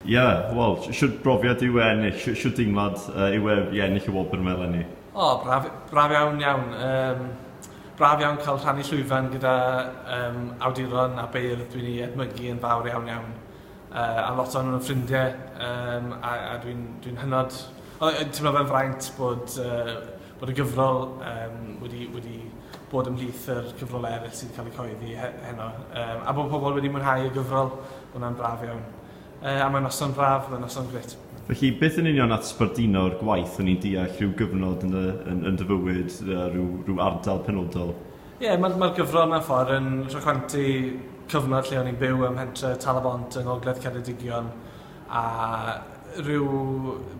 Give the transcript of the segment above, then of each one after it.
Ie, wel, shwt brofiad yw e ennill, shwt deimlad yw e i ennill y wobr 'ma eleni? O, braf, braf iawn iawn. Yym, braf iawn cael rhannu llwyfan gyda yym awduron a beirdd dwi'n eu edmygu yn fawr iawn iawn. Yy, a lot ohonyn nhw'n ffrindiau yym a a dwi'n dwi'n hynod o yy timlo fe'n fraint bod yy bod y gyfrol yym wedi wedi bod ymhlith yr cyfrolau eryll sydd wedi cael eu cyhoeddi he- heno yym a bod pobl wedi mwynhau y gyfrol, ma' hwnna'n braf iawn. Yy a mae noson braf, mae noson grêt. Felly beth yn union at sbarduno'r gwaith o'n i'n deall rhyw gyfnod yn dy yn yn dy fywyd yy rhyw rhyw ardal penodol? Ie ma'r ma'r gyfrol mewn ffordd yn rhychwantu cyfnod lle o'n i'n byw ym mhentre Tal-y-bont yng ngogledd Ceredigion a rhyw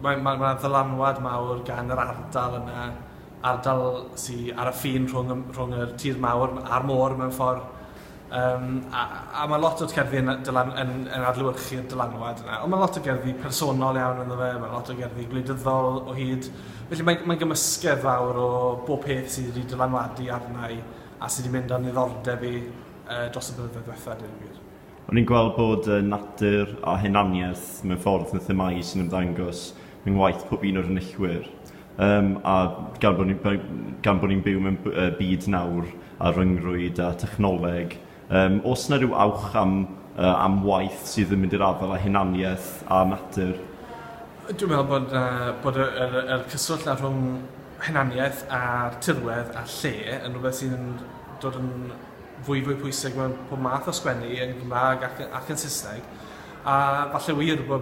mae ma' ma' ddylanwad mawr gan yr ardal yna, ardal sy ar y ffin rhwng y m- rhwng yr tir mawr a'r môr mewn ffordd. Yym a a ma' lot o'r cerddi yn dylan- yn yn adlewyrchu'r dylanwad yna. Ond ma' lot o gerddi personol iawn ynddo fe, ma' lot o gerddi gwleidyddol o hyd, felly mae'n mae'n gymysgedd fawr o bob peth sydd wedi dylanwadu arna i a sy wedi mynd â niddordeb i yy dros y blynyddoedd diwetha', deud y gwir. O'n i'n gweld bod y natur a hunaniaeth mewn ffordd yn themâu sy'n ymddangos yng ngwaith pob un o'r enillwyr. Yym, a gan bod ni'n by- gan bod ni'n byw mewn b- yy byd nawr a ryngrwyd a thechnoleg, yym, o's 'na ryw awch am yy am waith sydd yn mynd i'r afael â hunaniaeth a natur? Dwi'n me'wl bod yy bod y yr yy yr cyswllt 'na rhwng hunaniaeth a tirwedd a lle yn rwbeth sy'n dod yn fwy fwy pwysig mewn pob math o sgwennu yn Gymra'g ac y- ac yn Sysneg a falle wir bo'